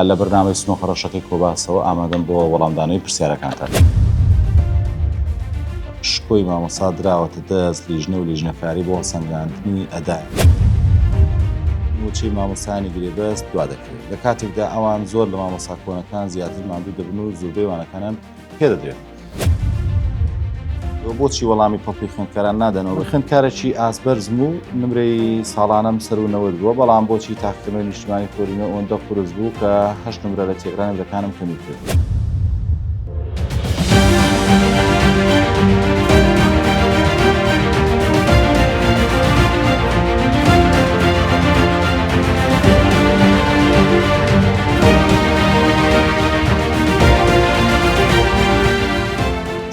لە بەرنامەی سنۆکە ڕەشەکەی کۆباسەوە ئامادەم بۆ وەڵامدانەوەی پرسیارەکانتان. شکۆی مامۆسا دراوەتە دەست لیژنە و لیژنەکاری بۆ هەڵسەنگاندنی ئەدای. موچەی مامۆستایانی گرێبەست دوا دەکەوێت لە کاتێکدا ئەوان زۆر لە مامۆستا کۆنەکان زیاتر ماندوو دەبن و زۆربەی وانەکانیان پێدەدرێت. بۆچی وەڵامی پڵپی خوێندکاران نادەنەوە خوێندکارێکی ئاسبەرزم و نمرەی ساڵانم سەر و نەوەد بووە بەڵام بۆچی تاکردنەوەی نیشتمانی کۆرینە ئەوەندە قورس بوو کە هەشت نمرە لە تێگرانی دەکانم کەمی کرد.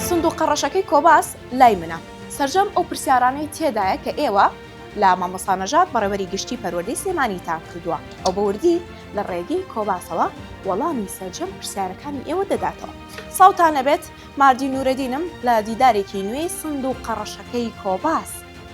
سندوقە ڕەشەکەی کۆباس لای منە. سەرجەم ئەو پرسیارانەی تێدایە کە ئێوە لە مامۆستا نەژاد بەڕێوەری گشتی پەروەردەی سلێمانیتان کردووە ئەو بە وردی لە ڕێگەی کۆباسەوە وەڵامی سەرجەم پرسیارەکانی ئێوە دەداتەوە ساوتان نەبێت ماردی نورەدینم لە دیدارێکی نوێی سندوقە ڕەشەکەی کۆباس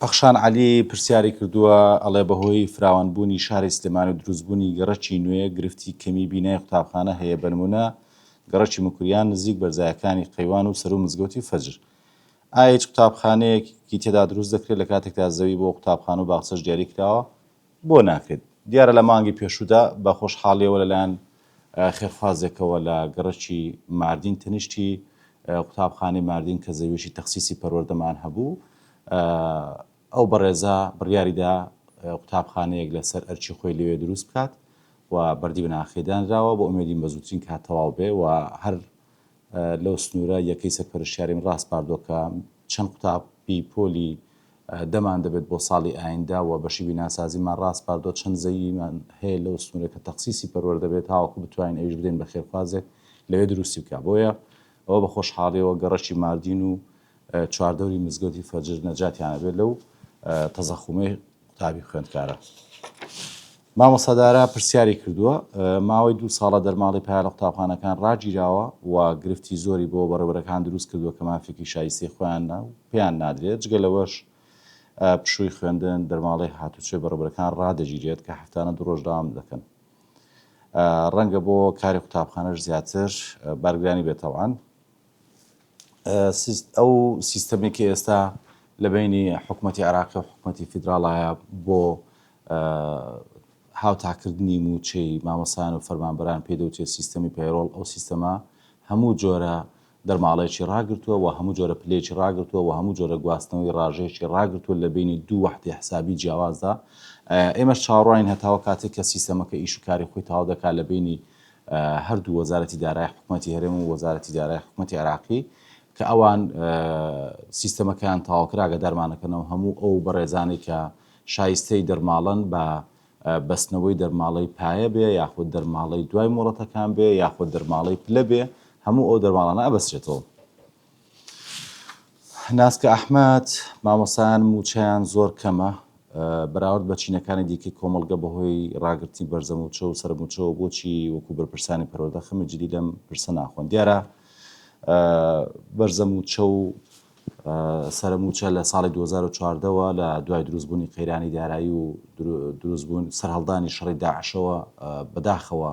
پەخشان عەلی پرسیاری کردووە، ئەڵێ بەهۆی فراوانبوونی شاری سلێمانی و دروستبوونی گەڕەکی نوێ گرفتی کەمی بینای قوتابخانە هەیە بەنمونە گەڕەکی مکریان نزیک بەرزایەکانی قەیوان و سەروو مزگەوتی فەجر ئایا هیچ قوتابخانەیەکی تێدا دروست دەکرێت لەکاتێکدا زەوی بۆ قوتابخانە و باخچەش دیاری کراوە؟ بۆ ناکەیت؟ دیارە لە مانگی پێشوودا بە خۆشحاڵییەوە لەلایەن خێرخوازێکەوە لە گەڕەکی ماردین تەنیشتی قوتابخانەی ماردین کە زەویەکی تەخسیسی پەروەردەمان هەبوو ئەو بەڕێزە بڕیاریدا قوتابخانەیەک لەسەر ئەرچی خۆی لەوێ دروست بکات و بەردی بناخێدانراوە بۆ ئومێدین بەزووترین کات تەواو بێ و هەر لەو سنوورە یەکەی سەرپەرشیاریم ڕاستپاردۆکە چەند قوتابی پۆلی دەمان دەبێت بۆ ساڵی ئایندە و بەشی بیناسازیمان ڕاسپاردووە چەند زەویمان هەیە لەو سنوورە کە تەخسیسی پەروەر دەبێت تاوەکو بتوانین ئەویش بدەین بە خێرخوازێک لەوێ دروستی بکات بۆیە ئەوە بە خۆشحاڵیەوە گەڕەکی ماردین و چواردەوری مزگەوتی فەجر نەجاتیان ئەبێت لەو تەزەخومەی قوتابی خوێندکارە. مامۆستا دارا پرسیاری کردووە، ماوەی دوو ساڵە دەرماڵی پیا لە قوتابخانەکان ڕاگیراوە و گرفتی زۆری بۆ بەڕێوەبەرەکان دروست کردووە کە مافێکی شایستەی خۆیان پێیان نادرێت، جگە لەوەش پشووی خوێندن، دەرماڵەی هاتوچۆی بەڕێوەبەرەکان ڕادەگیرێت کە هەفتانە دوو ڕۆژ دەوام دەکەن. ڕەنگە بۆ کاری قوتابخانەش زیاتر بارگرانی بێت تەوان. ئەو سیستەمەی کە ئێستا لە بەینی حکومەتی عێراقی و حکومەتی فیدراڵایە بۆ هاوتاکردنی مووچەی مامۆستایان و فەرمانبەران پێی دەوترێت سیستەمی پەیڕۆڵ ئەو سیستەمە هەموو جۆرە دەرماڵەیەکی ڕاگرتووە و هەموو جۆرە پلەیەکی ڕاگرتووە و هەموو جۆرە گواستنەوەی ڕاژەیەکی ڕاگرتووە لە بینی دوو وەحدی حسابی جیاوازدا ئێمەش چاوەڕوانین هەتاوە کاتێک کە سیستەمەکە ئیش و کاری خۆی تاو دەکات لە بینی هەردوو وەزارەتی دارای حکومەتی هەرێم و وەزارەتی دارای حکومەتی عراقی کە ئەوان سیستەمەکەیان تاواکراگە دەرمانەکەنەوە هەموو ئەو بەڕێزانەی کە شایستەی دەرماڵن بە بەستنەوەی دەرماڵەی پایە بێ یاخود دەرماڵەی دوای مۆڵەتەکان بێ یاخود دەرماڵەی پلە بێ هەموو ئەو دەرماڵانە ئەبەسرێتەوە ناسکە ئەحمەد، مامۆستایان مووچەیان زۆر کەمە بەراورد بە چینەکانی دیکەی کۆمەڵگە بەهۆی ڕاگرتنی بەرزەموچە و سەرموچەوە بۆچی وەکو بەرپرسانی پەروەردە خەمی جدی لەم پرسە ناخۆن دیارە بەرزەموچە و سەرموچە لە ساڵی 2014ەوە لە دوای دروستبوونی قەیرانی دارایی و دروستبوون سەرهەڵدانی شەڕی داعشەوە بەداخەوە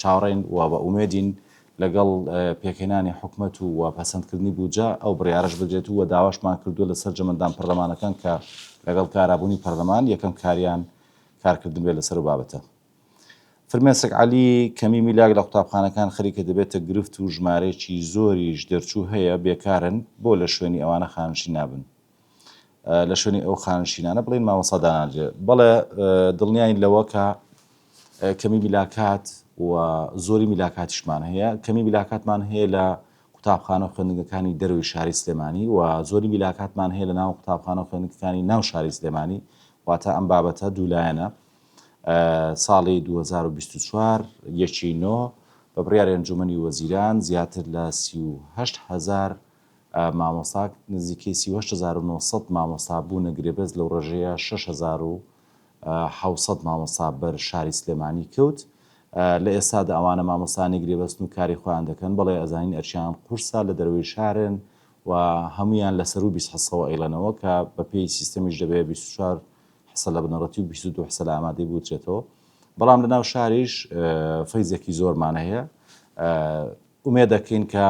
چاوەڕێین و بە ئومێدین لەگەڵ پێکهێنانی حکومەت و و پەسەندکردنی بودجە ئەو بڕیارەش بدرێت و داواشمان کردووە لە سەرجەم ئەندام پەرلەمانەکان کە لەگەڵ کارابوونی پەرلەمان یەکەم کاریان کارکردن بێت لەسەر و بابەتە. فرمێسک عەلی کەمی میلاک لە قوتابخانەکان خەریکە دەبێتە گرفت و ژمارەیەکی زۆریش دەرچوو هەیە بێکارن، بۆ لە شوێنی ئەوانە خانشین نابن؟ لە شوێنی ئەو خانشینانە بڵێن مامۆسا داناجێ بەڵێ دڵنیاین لەوە کە کەمی میلاکات و زۆری میلاکاتیشمان هەیە کەمی میلاکاتمان هەیە لە قوتابخانە و خوێندنگەکانی دەروی شاری سلێمانی و زۆری میلاکاتمان هەیە لە ناو قوتابخانە و خوێندنگەکانی ناو شاری سلێمانی واتە ئەم بابەتە دوولایەنە ساڵی 2024 یەکی نۆ بە بڕیاری ئەنجومنی وەزیران زیاتر لە 38 هزار مامۆستا نزیکەی سی و هەشت هەزار و نۆ سەد مامۆستا بوونە گرێبەست لەو ڕێژەیە شەش هەزار و حەوت سەد مامۆستا بەر شاری سلێمانی کەوت لە ئێستادا ئەوانە مامۆستانی گرێبەستن و کاری خۆیان دەکەن بەڵێ ئەزانین ئەرچیان قورسە لە دەروەی شارن و هەمویان لە سەرو بیست حسەوە ئەیڵێنەوە کە بە پێی سیستەمیش دەبێت بیست و چوار حسە لە بنەڕەتی و بیست و دوو حسە لە ئامادەی بوترێتەوە بەڵام لە ناو شاریش فەیزێکی زۆرمان هەیە ئومێدەکەین کە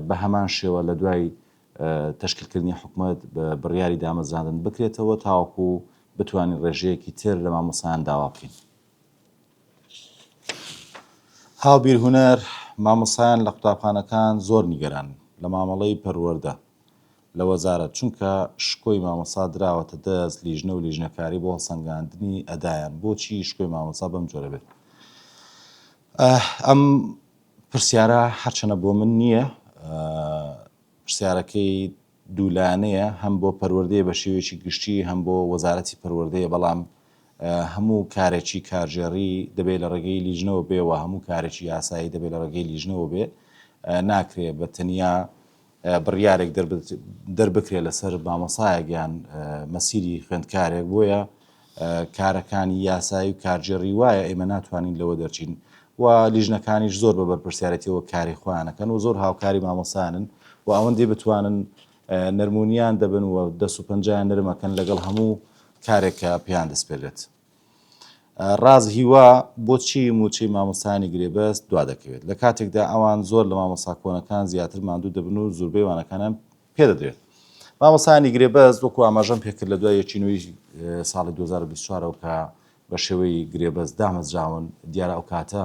بە هەمان شێوە لە دوای تەشکیلکردنی حکومەت بە بڕیاری دامەزراندن بکرێتەوە تاوەکو بتوانین ڕێژەیەکی تر لە مامۆستایان داوا بکەین. هاوبیر هونەر، مامۆستایان لە قوتابخانەکان زۆر نیگەرانن لە مامەڵەی پەروەردە لە وەزارەت، چونکە شکۆی مامۆستا دراوەتە دەست لیژنە و لیژنەکاری بۆ هەڵسەنگاندنی ئەدایان، بۆچی شکۆی مامۆستا بەم جۆرە بێت؟ ئەم پرسیارە هەرچەنە بۆ من نییە پرسیارەکەی دوولانەیە هەم بۆ پەروەردەیە بە شێوەیەکی گشتی هەم بۆ وەزارەتی پەروەردەیە بەڵام هەموو کارێکی کارژێڕی دەبێت لە ڕێگەی لیژنەوە بێەوە هەموو کارێکی یاسایی دەبێت لە ڕێگەی لیژنەوە بێ ناکرێت بە تەنیا بڕیارێک دەربکرێت لەسەر مامۆسایەک یان مەسیری خوێندکارێک بۆیە کارەکانی یاسایی و کارجێڕی وایە ئێمە ناتوانین لەوە دەرچین و لیژنەکانیش زۆر بە بەرپرسیارەتەوە کاری خۆیانەکەن و زۆر هاوکاری مامۆسانن و ئەوەندی بتوانن نەرمونیان دەبن و دەست و پنجیان نرمەکەن لەگەڵ هەموو کارێکە پێیان دەستپێلێت ڕاز هیوا بۆ چی موچەی مامۆستا نیگرێ بەس دوا دەکەوێت لە کاتێکدا ئەوان زۆر لە مامۆستا کۆنەکان زیاتر ماندوو دەبن و زوربەی وانەکانیان پێدەدرێت مامۆستا نیگرێ بەس وەکو ئاماژەم پێکرد لە دوای یەکینوی ساڵی 2024ەوە کە بە شێوەی گرێبەست دامەزراون دیارە ئەو کاتە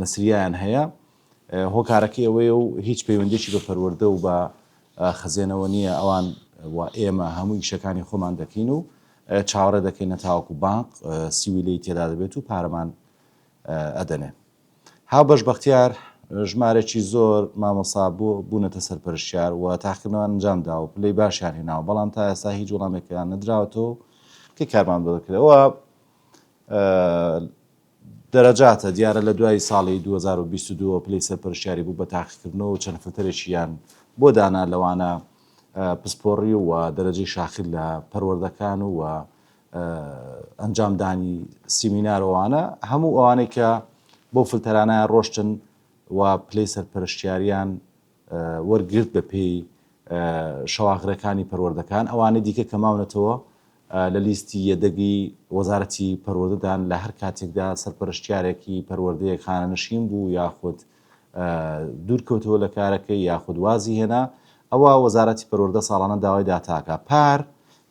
نەسرییەیان هەیە، هۆکارەکەی ئەوەیە و هیچ پەیوەندیەکی بە پەروەردە و بە خزێنەوە نییە، ئەوان و ئێمە هەموو ئیشەکانی خۆمان دەکەین و چاوەڕێ دەکەینە تاوەکو بانق سیویلەی تێدا دەبێت و پارەمان ئەدەنێ. هاوبەش بەختیار ژمارێکی زۆر مامۆسا بۆ بوونەتە سەرپەرشتیار و تاقیکردنەوەیان ئەنجام داوە و پلەی باشیان هێناوە، بەڵام تا ئێستا هیچ وەڵامێکیان نەدراوەتەوە کە کارمان بۆ دەکرێت. ئەوە دەرەجاتە، دیارە لە دوای ساڵی دوو هەزار و بیست و دوو ەوە پلەی سەرپەرشتیاری بوو بە تاقیکردنەوە و چەند فلتەرێکیان بۆ دانا لەوانە پسپۆڕی و دەرەجەی شاخی لە پەروەردەکان و ئەنجامدانی سیمینار و ئەوانە هەموو ئەوانەی کە بەو فلتەرانەیان ڕۆشتن و پلەی سەرپەرشتیاریان وەرگرت بەپێی شەواغرەکانی پەروەردەکان، ئەوانەی دیکە کە ماونەتەوە لە لیستی یەدەگی وەزارەتی پەروەردەدان لە هەر کاتێکدا سەرپەرشتیارێکی پەروەردەیەک خانەنشین بوو یاخود دوورکەوتەوە لە کارەکەی یاخود وازی هێنا ئەوا وەزارەتی پەروەردە ساڵانە داوای داتاکە پار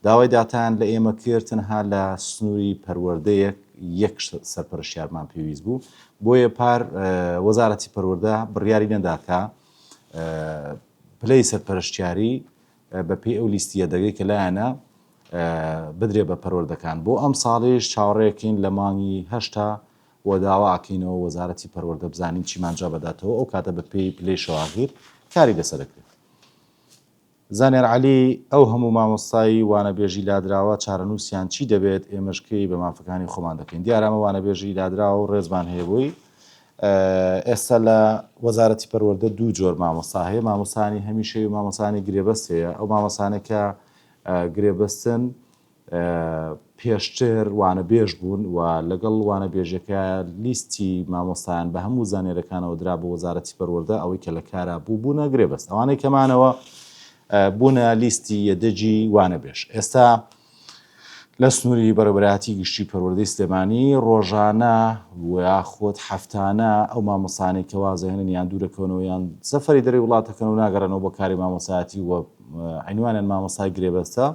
داوای داتایان لە ئێمە کرد، تەنها لە سنووری پەروەردەیەک یەک سەرپەرشتیارمان پێویست بوو، بۆیە پار وەزارەتی پەروەردە بڕیاری نەدا کە پلەی سەرپەرشتیاری بەپێی ئەو لیستی یەدەگەی کە لایەنە بدرێ بە پەروەردەکان بۆ ئەم ساڵیش چاوەڕێکین لە مانگی هەشتا و داوا ئەکەینەوە وەزارەتی پەروەردە بزانین چیمانجا بەداتەوە ئەو کاتە بە پێی پلەی شەواغیر کاری لەسەرەکرێت. زانیار عەلی، ئەو هەموو مامۆستای وانەبێژی لادراوە چارەنووسیان چی دەبێت، ئێمەش کەی بە مافەکانی خۆمان دەکەین؟ دیارە ئەمە وانەبێژی لادراوە و ڕێزمان هەیە بۆی. ئێستا لە وەزارەتی پەروەردە دوو جۆر مامۆستا هەیە، مامۆستایانی هەمیشەی و مامۆستایانی گرێبەست هەیە. ئەو مامۆستانە کە گرێبەستن، پێشتر وانەبێژ بوون و لەگەڵ وانەبێژەکە لیستی مامۆستایان بە هەموو زانێرەکانەوە درا بۆ وەزارەتی پەروەردە ئەوەی کە لە کارا بوو بوونە گرێ بەست ئەوانەی کەمانەوە بوونە لیستی یەدەجی وانەبێژ ئێستا لە سنووری بەرەبراتی گشتی پەروەردەی سلێمانی ڕۆژانە ویاخۆت هەفتانە ئەو مامۆسانەی کە وازەهێنن یان دوورەکەونەوە یان سەفری دەری وڵاتەکەن و ناگەڕێنەوە بۆ کاری مامۆسایەتی و عینوانیان مامۆسای گرێبەستە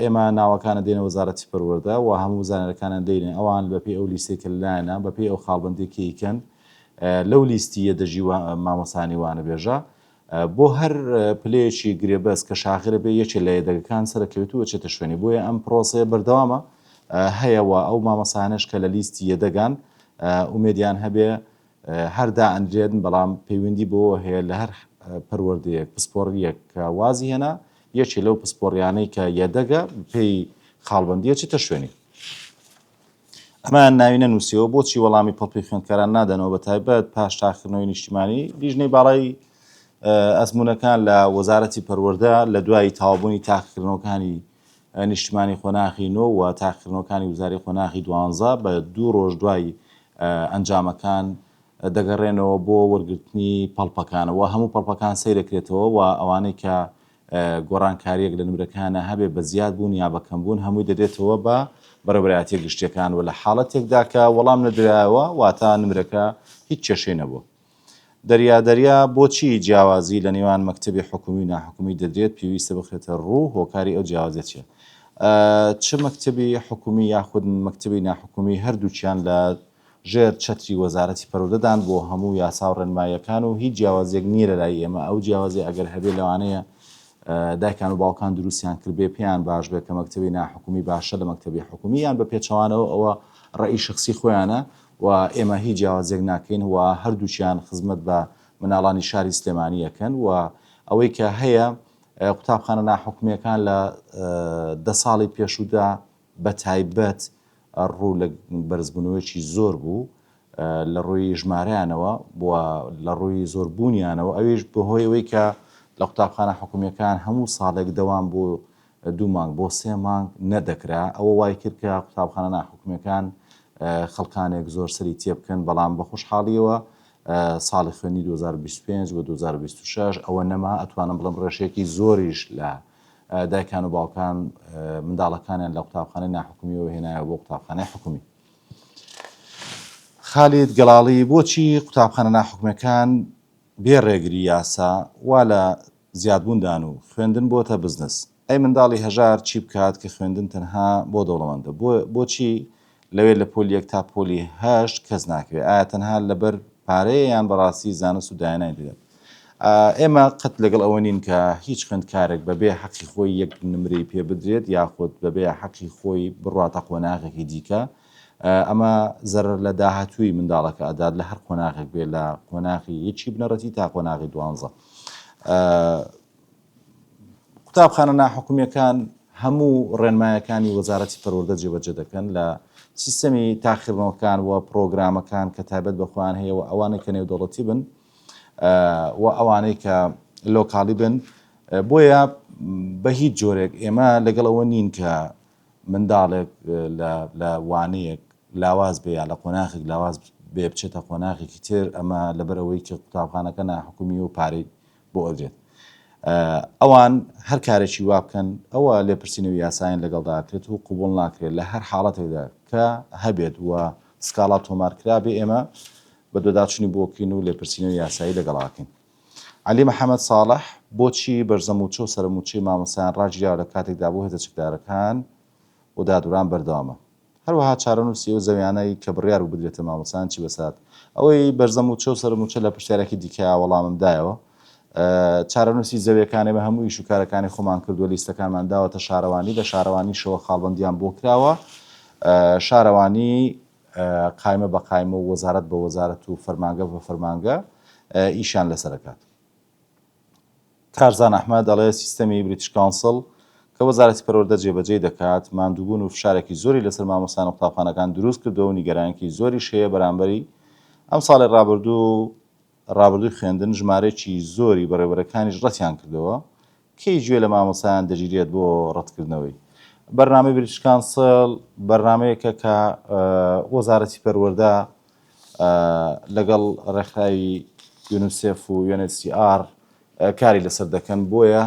ئێمە ناوەکانە دێنە وەزارەتی پەروەردە و هەموو زانەرەکانیان دەینێ ئەوان بە پێی ئەو لیستەی کە لەلایانە بە پێی ئەو خاڵبەندی کە ئیکەن لەو لیستی یە دەژی مامۆسانی وانەبێژە بۆ هەر پلەیەکی گرێبەست کە شاخرە بێ یەکێ لە یەدەگەکان سەرکەوێت و چێتە شوێنی بۆیە ئەم پرۆسەیە بەردەوامە هەیەەوە ئەو مامەسانش کە لە لیستی یەدەگان ئومێدیان هەبێ هەر دائەنرێن، بەڵام پەیوەندی بەوەوە هەیە لە هەر پەروەردەیەک، پسپۆڕییەک کە وازی هێنا، یەکێ لەو پسپۆڕییانەی کە یەدەگە بەپێی خاڵبەندی ئەچێتە شوێنی. ئەمەیان ناوی نەنووسیوە، بۆچی وەڵامی پڵپی خوێندکاران نادەنەوە، بەتایبەت پاش تاقیکردنەوەی نیشتیمانی، لیژنەی باڵای ئەزموونەکان لە وەزارەتی پەروەردە لە دوای تەواوبوونی تاقیکردنەوەکانی، نیشتمانی قۆناغی نۆ و تاقیکردنەوەکانی وزاری قۆناغی دوانزە بە دوو ڕۆژ دوای ئەنجامەکان دەگەڕێنەوە بۆ وەرگرتنی پەڵپەکانەوە هەموو پەڵپەکان سەیرەکرێتەوە و ئەوانەی کە گۆڕانکاریەک لە نمرەکانە هەبێ بە زیاد بوون یا بەکەم بوون هەمووی دەدێتەوە بە بەڕێوەبەرایەتیە گشتیەکان و لە حاڵەتێکدا کە وەڵام نەدرایەوە واتا نمرەکە هیچ کێشەی نەبووە. دەریا دەریا بۆچی جیاوازی لە نێوان مەکتەبی حکومی و ناحکومی دەدرێت پێویستە بخرێتە ڕوو هۆکاری ئەو جیاوازیە چیە چ مەکتەبی حکومی یاخود مەکتەبی ناحکومی هەردووچیان لە ژێر چەتری وەزارەتی پەرودەدان بۆ هەموو یاسا و ڕێنمایەکان و هیچ جیاوازیەک نییە لەلای ئێمە ئەو جیاوازی ئەگەر هەبێ لەوانەیە دایکان و باوکان دروستیان کردبێ پێیان باش بێت کە مەکتتەبی ناحکومی باشە لە مەکتتەبی حکومی یان بە پێچەوانەوە ئەوە ڕێی شخصی خۆیانە و ئێمە هیچ جیاوازیەک ناکەین و هەردووکیان خزمەت بە مناڵانی شاری سلێمانی ئەکەن و ئەوەی کە هەیە قوتابخانە ناحکومیەکان لە دە ساڵی پێشوودا بە تایبەت ڕوو لە بەرزبوونەوەیکی زۆر بوو لە ڕووی ژمارەیانەوە بووە لە ڕووی زۆربوونیانەوە ئەویش بەهۆی ئەوەی کە لە قوتابخانە حکومیەکان هەموو ساڵێک دەوام بوو دوو مانگ بۆ سێ مانگ نەدەکرا، ئەوە وای کرد کە قوتابخانە ناحکومییەکان خەڵکانێک زۆر سەری تێبکەن، بەڵام بە خۆشحاڵییەوە ساڵی خوێندنی دوو هەزار و بیست و پێنج بۆ دوو هەزار و بیست و شەش ئەوە نەما، ئەتوانم بڵێم ڕێژەیەکی زۆریش لە دایکان و باوکان منداڵەکانیان لە قوتابخانەی ناحکومییەوە هێنایەوە بۆ قوتابخانەی حکومی. خالید گەڵاڵی، بۆچی قوتابخانە ناحکومییەکان بێ ڕێگری یاسا وا لە زیادبوون دان و خوێندن بۆتە بزنس ئەی منداڵی هەژار چی بکات کە خوێندن تەنها بۆ دەوڵەمەندە بۆ بۆچی لەوێ لە پۆلی یەک تا پۆلی هەشت کەس ناکرێ ئایا تەنها لەبەر پارەیە یان بەڕاستی زانست و داهێنانی دەدەن ئێمە قەت لەگەڵ ئەوە نین کە هیچ خوێندکارێک بەبێ حەقی خۆی یەک نمرەی پێ بدرێت یاخود بەبێ حەقی خۆی بڕاتە قۆناغێکی دیکە ئەمە زەرر لە داهاتووی منداڵەکە ئەدات لە هەر قۆناغێک بێ لە قۆناغی یەکی بنەڕەتی تا قۆناغی دوانزە قوتابخانە ناحکومیەکان هەموو ڕێنمایەکانی وەزارەتی پەروەردە جێبەجێ دەکەن لە سیستەمی تاخیرنەوەکان و پرۆگرامەکان کە تایبەت بەخۆیان هەیە و ئەوانەی کە نێودەوڵەتی بن و ئەوانەی کە لۆکاڵی بن بۆیە بە هیچ جۆرێک ئێمە لەگەڵەوە نین کە منداڵێک لە وانەیەک لاواز بێ یا لە قۆناخێک لاواز بێ بچێتە قۆناخێکی تر ئەمە لەبەر ئەوەی کە قوتابخانەکە ناحکومی و پارەی بۆ ئەدرێت ئەوان هەر کارێکی وا بکەن ئەوە لێپرسینەوە یاسایان لەگەڵداکرێت و قوبول ناکرێت لە هەر حاڵەتێکدا کە هەبێت و سکاڵا تۆمارکرا بێ ئێمە بە دۆداچنی بۆکین و لێپرسینەوە یاسایی لەگەڵاکەین عەلی محەمەد ساڵح، بۆچی بەرزە مووچە و سەرە مووچەی مامۆستایان ڕاگیراوە لە کاتێکدا بۆ هێزە چەکدارەکان و دادوەران بەردەوامە؟ هەروەها چارەنووسی ئەو زەویانەی کە بڕیار بوو بدرێتە مامۆستایان چی بەسەر ئەوەی بەرزە مووچە و سەرە مووچە لە پرسیارێکی دیکەیا وەڵامم دایەوە، چارەنووسی زەویەکان ئێمە هەموو ئیش و کارەکانی خۆمان کردووە لیستەکانمان داوەتە شارەوانی لە شارەوانیشەوە خاڵبەندیان بۆ کراوە شارەوانی قایمە بە قایمە و وەزارەت بە وەزارەت و فەرمانگە بە فەرمانگە ئیشیان لەسەر دەکات. کارزان ئەحمەد دەڵێت، سیستەمی بریتش کاونسڵ کە وەزارەتی پەروەردە جێبەجێی دەکات، ماندووبوون و فشارێکی زۆری لەسەر مامۆستایان و قوتابخانەکان دروست کردووە و نیگەرانیی زۆریش هەیە بەرامبەری ئەمساڵی رابردوو و رابردووی خوێندن، ژمارەیەکی زۆری بەڕێوەبەرەکانیش رەتیان کردەوە کێی گوێ لە مامۆستایان دەگیرێت بۆ ڕەتکردنەوەی بەرنامەی بریتش کانسڵ بەرنامەیەکە کە وەزارەتی پەروەردە لەگەڵ ڕێکخراوی یونسێف و UNHCR کاری لەسەر دەکەن بۆیە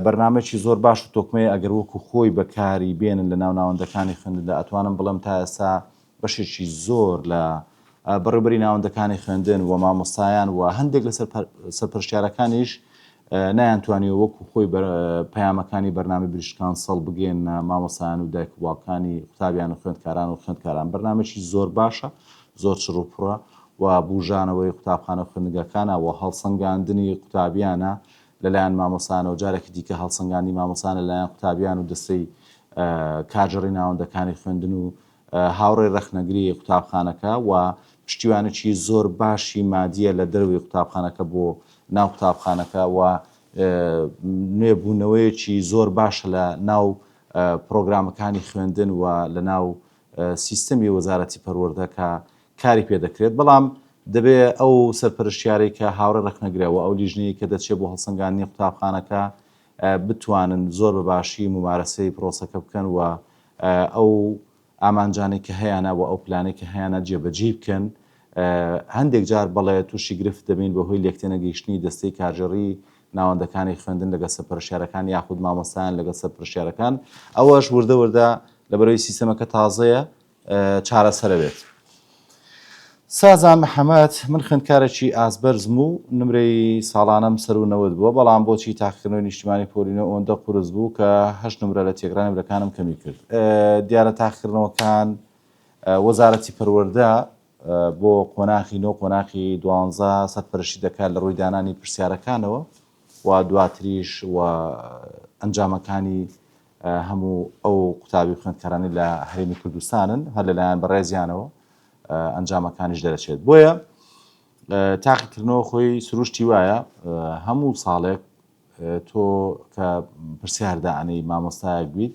بەرنمەکی زۆر باش و تۆکمەیە ئەگەر وەکو خۆی بەکاری بێنن لە ناو ناوەندەکانی خوێندندا ئەتوانم بڵێم تا ئێستا بەشێکی زۆر لە بەڕێوبەری ناوەندەکانی خوێندن و مامۆستایان و هەندێک لە سەرپەرشتیارەکانیش نایان توانیوە وەکو خۆی پەیامەکانی بەرنامی بریشکان سەڵ بگەن مامۆسایان و دایک وڵاکانی قوتابیان و خوێندکاران و خوێندکاران بەرنمێکی زۆر باشە زۆر چڕوپڕە و بژانەوەی قوتابخانە خوێندگەکانە و هەڵسەنگاندنی قوتابیانە لەلایەن مامۆسانەوە جارێکی دیکە هەڵسەنگانی مامۆسانە لایەن قوتابیان و دەستەی کارجڕی ناوەندەکانی خوێندن و هاوڕێ رەخنەگری قوتابخانەکە و پشتیوانێکی زۆر باشی مادییە لە دەرەوەی قوتابخانەکە بۆ ناو قوتابخانەکە و نوێ بوونەوەیەکی زۆر باشە لە ناو پرۆگرامەکانی خوێندن و لە ناو سیستەمی وەزارەتی پەروەردە کە کاری پێ دەکرێت بەڵام دەبێ ئەو سەرپەرشتیارەی کە هاوڕێ رەخنەگرەوە ئەو لیژنەیە کە دەچێت بۆ هەڵسەنگاندنی قوتابخانەکە بتوانن زۆر بە باشی مومارەسەی پرۆسەکە بکەن و ئەو ئامانجانەی کە هەیانە و ئەو پلانەی کە هەیانە جێبەجێی بکەن. هەندێک جار بەڵێ تووشی گرفت دەبین بەهۆی لێکتێنەگەیشتنی دەستەی کارگێڕیی ناوەندەکانی خوێندن لەگەڵ سەرپەرشتیارەکان یاخود مامۆستایان لەگەڵ سەرپەرشتیارەکان. ئەوەش وردە وردە لەبەرئەوەی سیستەمەکە تازەیە، چارەسەرە بێت. سازان محەمەد، من خوێندکارێکی ئاستبەرزم و نمرەی ساڵانەم سەروو نەوەد بووە، بەڵام بۆچی تاقیکردنەوەی نیشتیمانی پۆلی نۆ ئەوەندە قورس بوو کە هەشت نمرە لە تێکرا نمرەکانم کەمی کرد؟ دیارە تاقیکردنەوەکان وەزارەتی پەروەردە بۆ قۆناخی نۆ قۆناخی دوانزە سەرپەرشتی دەکات لە ڕووی دانانی پرسیارەکانەوە و دواتریش و ئەنجامەکانی هەموو ئەو قوتابی و خوێندکارانەی لە هەرێمی کوردستانن هەر لەلایەن بەڕێزیانەوە ئەنجامەکانیش دەرەچێت بۆیە تاقیکردنەوە خۆی سروشتی وایە هەموو ساڵێک تۆ کە پرسیاردانەی مامۆستایەک بیت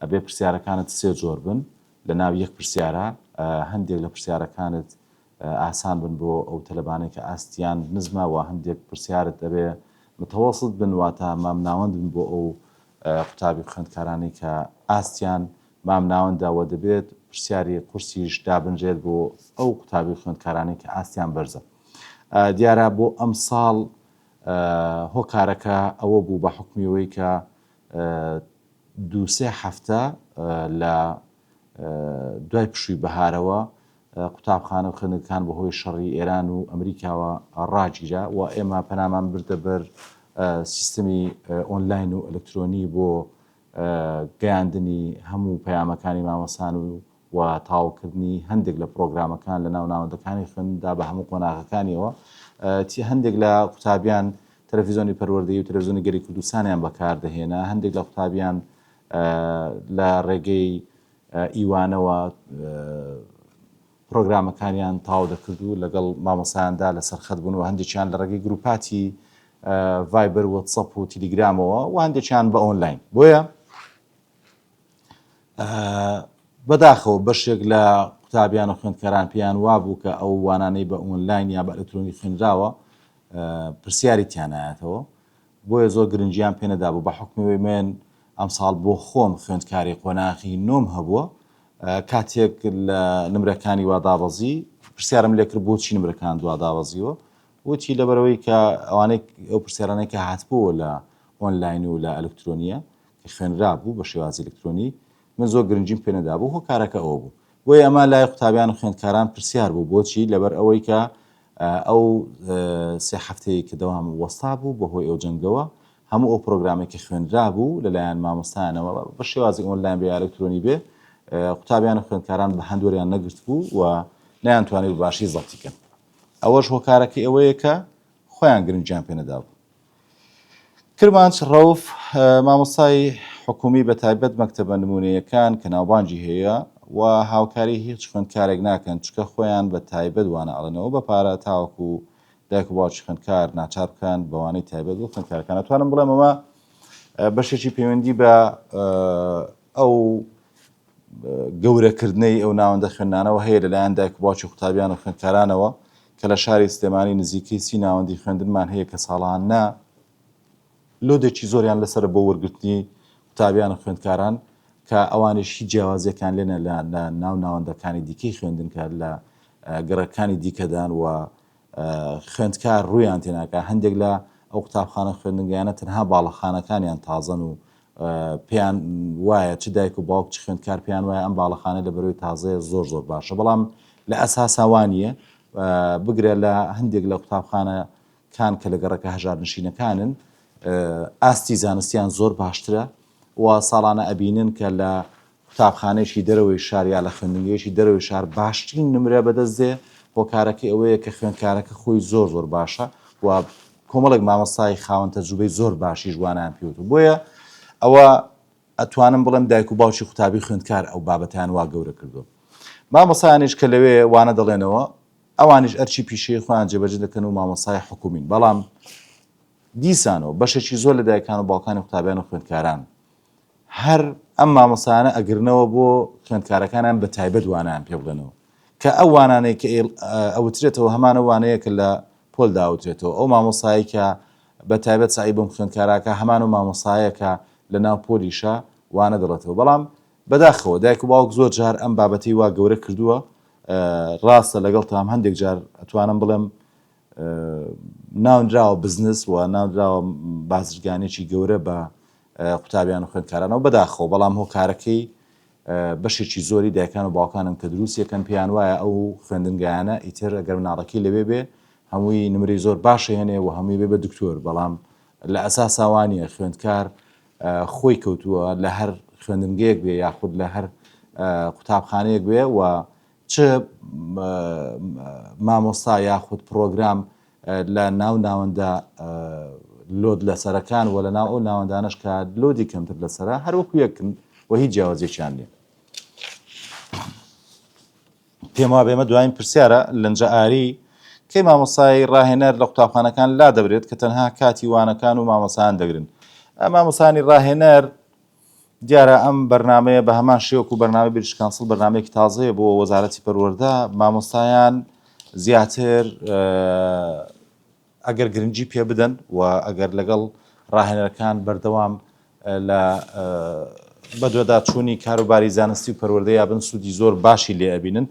ئەبێ پرسیارەکانت سێ جۆر بن لە ناو یەک پرسیارە هەندێک لە پرسیارەکانت ئاسان بن بۆ ئەو تەلەبانەی کە ئاستیان نزمە وە هەندێک پرسیارت ئەبێ متوسط بن واتە مامناوەند بن بۆ ئەو قوتابی خوێندکارانەی کە ئاستیان مامناوەندە وە دەبێت پرسیاری قورسیش دابنرێت بۆ ئەو قوتابی خوێندکارانەی کە ئاستیان بەرزە دیارە بۆ ئەمساڵ هۆکارەکە ئەوە بوو بە حکمیەوەی کە دووسێ هەفتە لە دوای پشووی بەهارەوە قوتابخانە و خوێندنگەکان بەهۆی شەڕی ئێران و ئەمریکاوە ڕاگیرا و ئێمە پەنامان بردە بەر سیستمی ئۆنلاین و ئەلکترۆنی بۆ گەیاندنی هەموو پەیامەکانی مامەسان و و تاوکردنی هەندێک لە پرۆگرامەکان لە ناو ناوەندەکانی خوێندا بە هەموو قۆناغەکانیەوە تی هەندێک لە قوتابیان تەلەفیزۆنی پەروەردەی و تەلەفزیۆنی گەری کوردستانیان بەکاردەهێنا هەندێک لە قوتابیان لە ڕێگەی ئیوانەوە پرۆگرامەکانیان تاو دەکرد و لەگەڵ مامۆسایاندا لەسەر خەت بوون و هەندێکیان لە ڕێگەی گروپاتی ڤایبەر وەتسەپ و تیلیگرامەوە و هەندێکیان بە ئۆنلاین بۆیە بەداخەوە بەشێک لە قوتابیان و خوێندکاران پێیان وابوو کە ئەو وانانەی بە ئۆنلاین یا بە ئەلکترۆنی خوێنراوە پرسیاری تیانایەتەوە بۆیە زۆر گرنگییان پێ نەدابوو، بە حوکمی من ئەمساڵ بۆ خۆم خوێندکاری قۆناغی نۆم هەبووە، کاتێک لە نمرەکانی وا دابەزی، پرسیارم لێ کرد بۆچی نمرەکان دوا دابەزیوە، وتی لەبەرەوەی کە ئەوانەی ئەو پرسیارانەی کە هاتبووە لە ئۆنلاین و لە ئەلکترۆنییە کە خوێنرابوو بە شێوازی ئەلکترۆنی، من زۆر گرنگیم پێ نەدابوو، هۆکارەکە ئەوە بوو. بۆیە ئەمە لای قوتابیان و خوێندکاران پرسیار بوو بۆچی؟ لەبەر ئەوەی کە ئەو سێ هەفتەیە کە دەوام وەستا بوو بە هۆی ئەو جەنگەوە هەموو ئەو پرۆگرامێک کە خوێنرا بوو لەلایەن مامۆستایانەوە بە شێوازی ئۆنلاین بێ ئەلکترۆنی بێ قوتابیان و خوێندکاران بە هەندوەریان نەگرت بوو و نەیانتوانی بە باشی زەڵتیکەن ئەوەش هۆکارەکەی ئەوەیە کە خۆیان گرنگیان پێ نەدابوو کرمانج رەوف مامۆستای حکومی بە تایبەت مەکتەبە نمونەیەکان کە ناوبانگی هەیە و هاوکاری هیچ خوێندکارێک ناکەن چکە خۆیان بە تایبەت وانە ئەڵێنەوە بە پارە تاوەکو دایک و باوکی خوێندکار ناچار بکەن بەوانەی تایبەت بۆ خوێندکارەکان ئەتوانم بڵێم ئەمە بەشێکی پەیوەندی بە ئەو گەورەکردنەی ئەو ناوەندە خوێندنانەوە هەیە لەلایەن دایک و باوکی و قوتابیان و خوێندکارانەوە کە لە شاری سلێمانی نزیکەی سی ناوەندی خوێندنمان هەیە کە ساڵانە لۆدێکی زۆریان لەسەر بۆ وەرگرتنی قوتابیان و خوێندکاران کە ئەوانش هیچ جیاوازیەکان لێنە لە ناو ناوەندەکانی دیکەی خوێندنکە لە گەڕەکانی دیکەدان و خوێندکار ڕویان تێناکە هەندێک لە ئەو قوتابخانە خوێندنگەیانە تەنها باڵەخانەکانیان تازەن و پێیان وایە چ دایک و باوک چ خوێندکار پێیان وایە ئەم باڵەخانە لە بەرەوەی تازەیە زۆر زۆر باشە بەڵام لە ئەساسا وا نییە بگرە لە هەندێک لە قوتابخانە کان کە لە گەڕەکە هەژار نشینەکانن ئاستی زانستیان زۆر باشترە و ساڵانە ئەبینن کە لە قوتابخانەیەکی دەرەوەی شار یا لە خوێندنگەیەکی دەرەوەی شار باشترین نمرە بەدەست دێ، هۆکارەکەی ئەوەیە کە خوێندکارەکە خۆی زۆر زۆر باشە و کۆمەڵێک مامۆستای خاوەن تەجروبەی زۆر باشیش وانایان پێوتو بۆیە ئەوە ئەتوانم بڵێم دایک و باوکی قوتابی خوێندکار ئەو بابەتیان وا گەورە کردو مامۆسایانیش کە لەوێ وانە دەڵێنەوە ئەوانیش ئەرچی پیشەی خۆیان جێبەجێ دەکەن و مامۆسای حکومین بەڵام دیسانەوە بەشێکی زۆر لە دایکان و باوکانی قوتابیان و خوێندکاران هەر ئەم مامۆستایانە ئەگرنەوە بۆ خوێندکارەکانیان بە تایبەت وانایان پێ بڵێنەوە کە ئەو وانانەی کە ئەوترێتەوە هەمانە وانەیە کە لە پۆل داوترێتەوە ئەو مامۆستایی کە بە تایبەت سعی بۆم خوێندکاراکە هەمان و مامۆستایەکە لە ناو پۆلیشە وانە دەڵێتەوە بەڵام بەداخەوە دایک و باوک زۆر جار ئەم بابەتی وا گەورە کردووە ڕاستە لەگەڵ تام هەندێک جار ئەتوانم بڵێم ناونراوە بزنس و ناونراوە بازرگانێکی گەورە بە قوتابیان و خوێندکارانەوە بەداخەوە بەڵام هۆکارەکەی بەشێکی زۆری دایکان و باوکانن کە دروست یەکەن پێیان وایە ئەو خوێندنگایانە ئیتر گەر مناڵەکەی لەوێ بێ هەمووی نمری زۆر باشە هێنێ و هەمووی بێ بە دکتۆر بەڵام لە ئەساساوانە خوێندکار خۆی کەوتووە لە هەر خوێندنگەیەک بێ یاخود لە هەر قوتابخانەیەک بێ و چ مامۆستا یاخود پرۆگرام لە ناو ناوەندە لۆد لەسەرەکان و لە ناو ئەو ناوەندانەش کە لۆدی کەمتر لەسەرە هەر وەکو یەکن و هیچ جیاوازێکیان نیە پێم وا بێمە دوایین پرسیارە لەنجە ئاری کەی مامۆسای ڕاهێنەر لە قوتابخانەکان لا دەبرێت کە تەنها کاتی وانەکان و مامۆسایان دەگرن مامۆسانی ڕاهێنەر دیارە ئەم بەرنامەیە بە هەمان شێوەک و بەرنامە بریش کانسڵ بەرنمەیەکی تازەیە بۆ وەزارەتی پەروەەردە مامۆستایان زیاتر ئەگەر گرنگجی پێ بدەن و ئەگەر لەگەڵ ڕاهێنەرەکان بەردەوام لە بەدوەدا چووی کاروباری زانستی و پەروەردە یا بن سوودی زۆر باشی لێ ئەبینن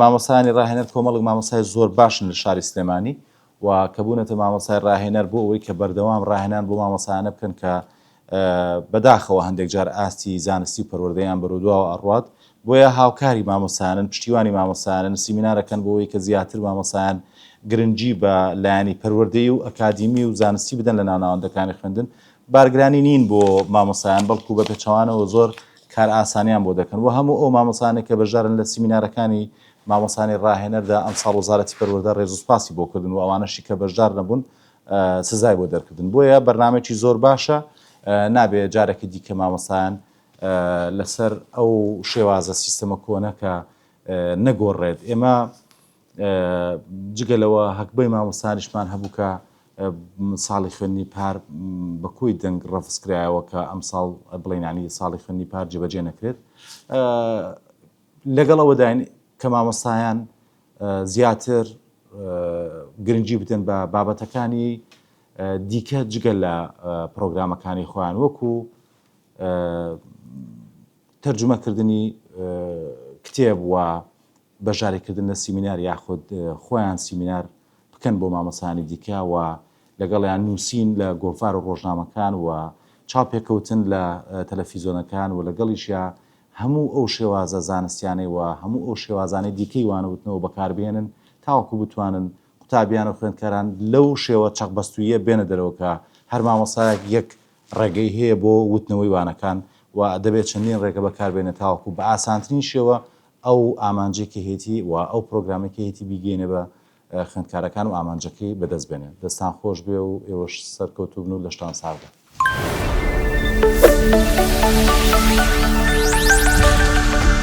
مامۆسانی ڕاهێنەر کۆمەڵک مامۆسای زۆر باشن لە شاری سلێمانی و کە بوونەتە مامۆسای ڕاهێنەر بۆ ئەوەی کە بەردەوام ڕاهێنان بۆ مامۆسایانە بکەن کە بەداخەوە هەندێک جار ئاستی زانستی و پەروەردەیان بەرودواوە ئەڕوات، بۆیە هاوکاری مامۆستایانن، پشتیوانی مامۆستایانن، سیمینارەکەن بۆ وەی کە زیاتر مامۆستایان گرنگی بە لایەنی پەروەردەیی و ئەکادیمی و زانستی بدەن لە ناو ناوەندەکانی خوێندن، بارگرانی نین بۆ مامۆستایان بەڵکو بە پێچەوانەوە زۆر کار ئاسانیان بۆ دەکەن وە هەموو ئەو مامۆستایانەی کە بەشدارن لە سیمینارەکانی مامۆستایانی ڕاهێنەردا ئەمساڵ وەزارەتی پەروەردە ڕێزو سوپاسی بۆ کردن وە ئەوانەشی کە بەشدار نەبوون سزای بۆ دەرکردن بۆیە بەرنمەێکی زۆر باشە نابێ جارێکی دیکە مامەسایان لەسەر ئەو شێوازە سیستەمە کۆنەکە نەگۆڕێت ئێمە جگە لەوە هەکبەی مامۆستانیشمان هەبووکە ساڵی خوێنی پار بە کۆی دەنگ ڕفسکرایەوە کە ئەم ساڵ بڵێنانی ساڵی خوێنی پار جێبەجێ نەکرێت لەگەڵ ئەوەداین کە مامۆستایان زیاتر گرنگی بدەن بە بابەتەکانی دیکە جگە لە پرۆگرامەکانی خۆیان وەکو تەرجمەکردنی کتێب و بەشارێکردن لە سیمینار یاخود خۆیان سیمینار بکەن بۆ مامۆستایانی دیکە و لەگەڵیان نووسین لە گۆڤار و ڕۆژنامەکان و چاوپێکەوتن لە تەلەفیزۆنەکان و لەگەڵیشیا هەموو ئەو شێوازە زانستیانەی و هەموو ئەو شێوازانەی دیکەی وانەوتنەوە بەکاربهێنن تاوەکو بتوانن قوتابیان و خوێندکاران لەو شێوە چەقبەستووییە بێنە دەرەوە کە هەر مامۆستایەک یەک ڕێگەی هەیە بۆ وتنەوەی وانەکان و دەبێت چەندین ڕێگە بەکاربێنێت تاوەکو بە ئاسانترین شێوە ئەو ئامانجەی کە هەیەتی و ئەو پرۆگرامەی کە هەیەتی بیگەینێ بە خوێندکارەکان و ئامانجەکەی بەدەست بێنێ. دەستان خۆش بێ و ئێوەش سەرکەوتوو بن و لەشتان ساغ بێ.